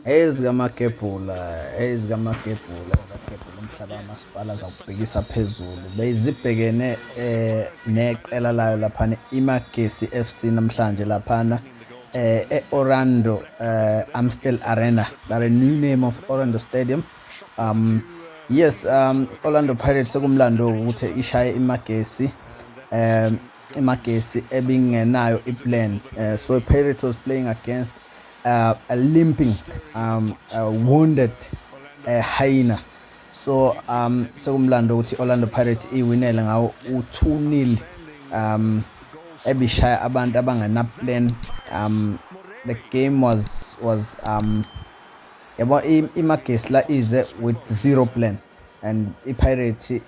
ezikamagebhula ezikamagebhula ezagebhula umhlaba kamasipala zakubhekisa phezulu bezibhekene eh neqela layo laphana imagesi FC namhlanje laphana eh eOrlando eh Amstel Arena that a new name of Orlando Stadium um yes um Orlando Pirates sekumlando ukuthi ishaye imagesi um imagesi ebingenayo iplan uh, so Pirates was playing against uh, a limping um, a wounded uh, hyena so um sekumlando ukuthi Orlando Pirates iwinele ngawo u2-0 um ebishaya abantu abangena plan um the game was was um yabo imagesi la ize with zero plan and iPirates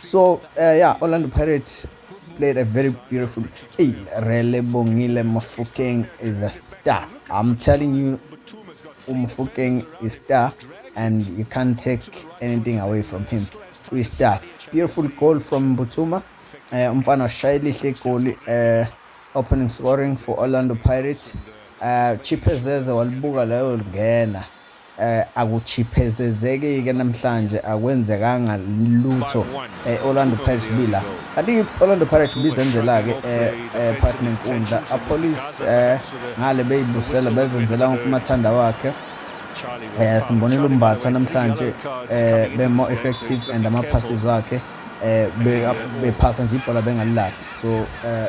so uh, yeah orlando pirates played a very beautiful hey rele bongile mafukeng is a star i'm telling you umfukeng is star and you can't take anything away from him we star beautiful goal from butuma uh, eh, umfana washaya elihle goal uh, eh, opening scoring for orlando pirates uh, eh, chipezeze walibuka layo lingena Akuchiphezezeki-ke namhlanje akwenzekanga lutho e-Orlando Pirates Bila. Kanti i-Orlando Pirates bizenzela-ke ePark nenkundla. Apolice ngale beyibusela bezenzela umathanda wakhe. Eh simbonile umbatha namhlanje eh be more effective and ama passes wakhe eh bephasa nje ibhola bengalilahli so eh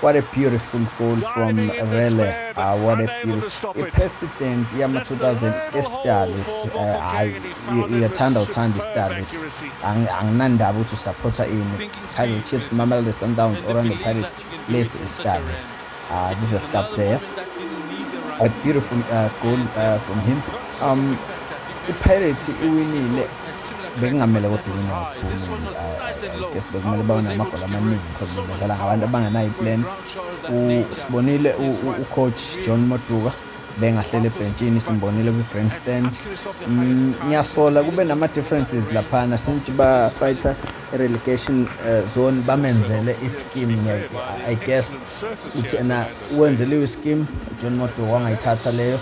What a beautiful goal from Rele. Uh, what a beautiful. I-president yama-2000 estalis hayi eh, uyathanda uthanda istalis anginandaba ukuthi usaphotha ini kaizer chiefs mamelodi sundowns orlando pirates lesi istalis uh, ah, this is a star player a beautiful uh, goal uh, from him um, ipirates iwinile bekungamele kodwa ube no-two maybe uh, guess bekumele babe namagoli amaningi because bedlala ngabantu abangenayo iplan sibonile ucoach john moduka bengahlele ebhentshini simbonile kwi-grandstand mm, ngiyasola kube nama-differences laphana since ba-fighter i-relegation uh, zone bamenzele i-scheme i guess uthi ena wenze leyo scheme ujohn modo wangayithatha leyo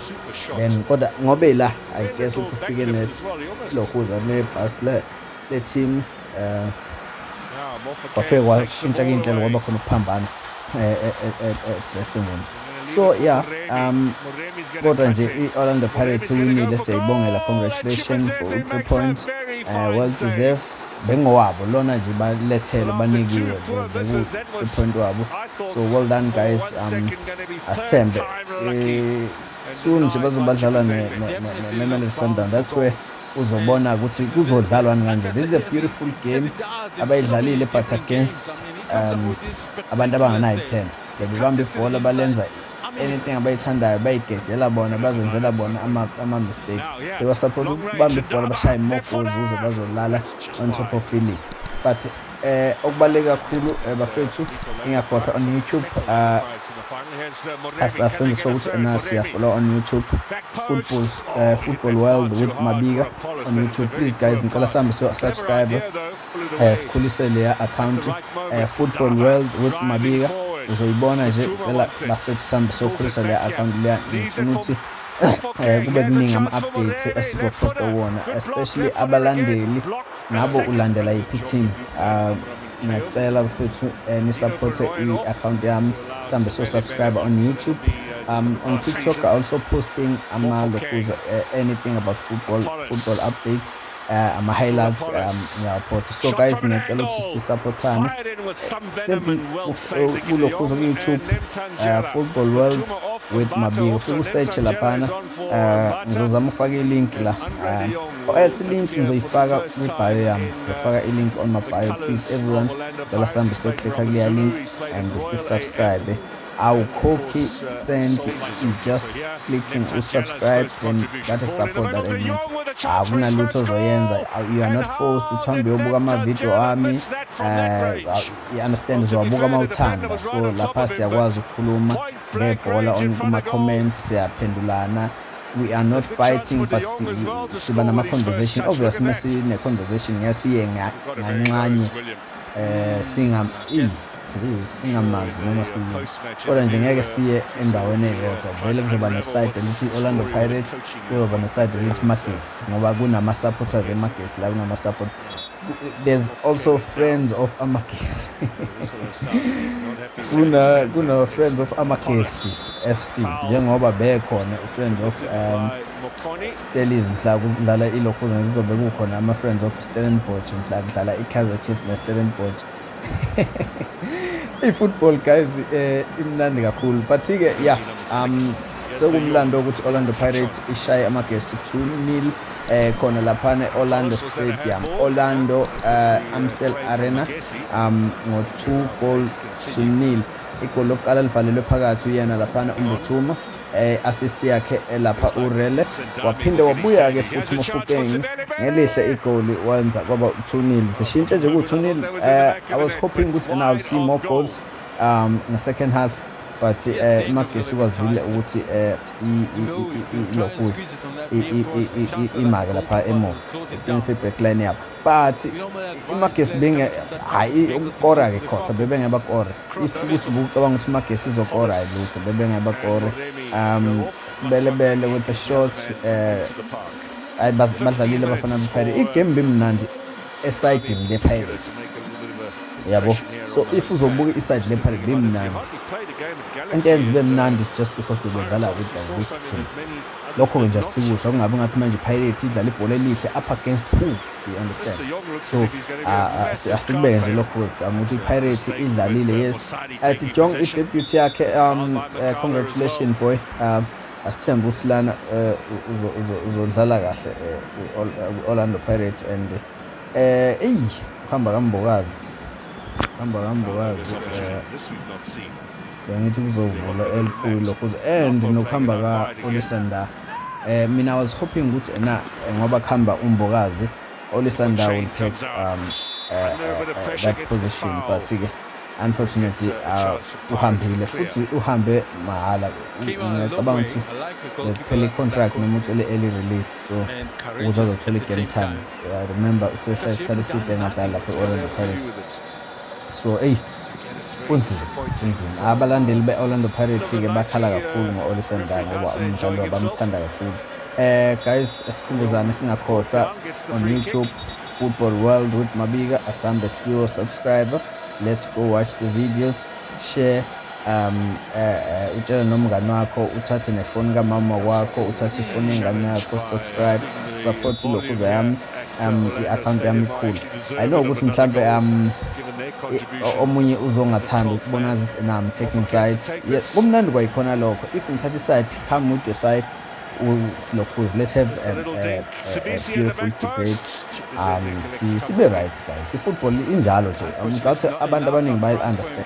then kodwa ngobe la i guess ukuthi ufike nelokhuza nebhasi le le-team um kwafike kwashintsha kuyinhlelo kwaba khona ukuphambana eh, eh, eh, edressing room so yeah um kodwa nje i-orlando pirates iwinile siyayibongela congratulations for u-three points uh, well deserved bengowabo lona nje balethele banikiwe bekuwupoint wabo so well done guys um asithembe eh, soon nje bazobadlala ne-mamelodi sundown that's where uzobona ukuthi kuzodlalwani kanje this is a beautiful game abayidlalile but against um abantu abanganayo plan bebebamba ibhola balenza anything abayithandayo bayigejela bona bazenzela bona ama-mistake they were supposed ukubamba ibhola bashaye more goals ukuze bazolala on top of feeling but eh okubaluleke kakhulu eh, bafethu ingakhohlwa on youtube ah, asenziswa ukuthi ena siyafollow on youtube football eh, football world with mabika on youtube please guys ngicela sihambe so subscribe eh sikhulise leya account eh football world with mabika uzoyibona nje ngicela bafethu sambe sokhulisa leya account leya ngifuna ukuthi eh kube kuningi ama updates esizoposta wona especially abalandeli nabo ulandela iphi team ah, ngiyacela bafethu eh, ni support i account yami sambe so subscribe on youtube Um, on TikTok, I also posting Amalo, who's uh, anything about football, football updates. uh, ama highlights um ngiyawaphosta so guys ngiyacela ukuthi sisupportane simple kulokhu uze ku-youtube uh, football world with mabiko ufike usearche laphana uh, ngizozama ukufaka ilink la uh, or else ilink ngizoyifaka kwibhayo yami ngizofaka ilink on my bio please everyone cela sihambe siyoclikha kuleya link and sisubscribe awukhokhi cent you just clicking usubscribe then that is support that I need akunalutho ozoyenza you are not forced ukuthi hambe uyobuka amavidiyo ami eh, you understand zowabuka uma uthanda so lapha siyakwazi ukukhuluma ngebhola kuma-comment siyaphendulana we are not fighting but siba nama-conversation obvious uma sine-conversation ngeke siye nganxanye um singa singamanzi noma siyini kodwa nje ngeke siye endaweni eyodwa vele kuzoba nesayidi elithi i-orlando pirate kuzoba nesayidi elithi magesi ngoba kunama-supporters emagesi la kunama-support there's also friends of amagesi kuna-friends of amagesi f c njengoba bekhona u-friends of um, Stellies mhla kudlala iLokhuzana kuzobe kukhona ama-Friends of Stellenbosch mhla kudlala i-Kaizer Chiefs ne-Stellenbosch i-football guys eh imnandi kakhulu but ke yeah um sekumlando ukuthi Orlando Pirates ishaye amagesi 2-0 eh khona lapha eOrlando Stadium Orlando uh, Amstel Arena um ngo 2 goal to nil igoli lokuqala livalelwe phakathi uyena lapha uMbuthuma eh, assist yakhe elapha urele waphinde wabuya-ke futhi umofukeng ngelihle igoli wenza kwaba u-2 zishintshe nje ku-2 nil um eh, i was hoping ukuthi and i'll see more goals um nge-second half but um imagesi kwazile ukuthi um ilokuza imake lapha emuva iqinise i-backline yabo but imagesi benge hayi ukukora ke khohlwa bebenge bakore if ukuthi bucabanga ukuthi imagesi izokora hayi lutho bebenge bakore um sibelebele with the shots eh hayi badlalile abafana bePirates igame bimnandi esayidini lePirates yabo so if uzobuka isayidi lePirates bimnandi into yenza ibe mnandi just because bebedlala with the weak team lokho-ke nje asikusho kungabi ngathi manje pirate idlala ibhola elihle up against who you understand so asikubeke nje lokho-ke angithi ipirate idlalile yes at uh, jong idebut yakhe um uh, congratulation boy um asithembe ukuthi lana uh, uzodlala kahle kwi-orlando pirates and um eyi kuhamba kambokazi kuhamba kambokazi um bengithi kuzovula elikhulu lokhuza and nokuhamba ka-olisanda um eh, mina was hoping ukuthi ena eh, ngoba kuhamba umbokazi olisanda will take um, uh, uh, that position but-ke unfortunately uh, uhambile futhi uhambe mahhala ngiyacabanga ukuthi kuphela i-contract noma ucele early release so ukuze azothola i-game time uh, remember usesha isikhathi eside engadlali lapho i-orlando pirates so eyi kunzima kunzima abalandeli be-orlando pirates-ke bakhala kakhulu ngo-olisenda ngoba umdlalo bamthanda kakhulu um guys esikhumbuzane singakhohlwa on youtube football world with mabika asambe siyo subscribe let's go watch the videos share um uh, utshele nomngane wakho uthathe nefoni kamama wakho uthathe ifoni yengane yakho subscribe support ilokhuza yami um i-akhawunti yami ikhulu i know ukuthi mhlawumbe um omunye uzongathanda ukubona ukuthi na i'm taking sides yes kumnandi kwayikhona lokho if ngithatha iside come with your side usilokhuzi let's have a, a, a, a beautiful debate um sibe right guys i-football injalo nje ngicabanga ukuthi abantu abaningi bayi-understand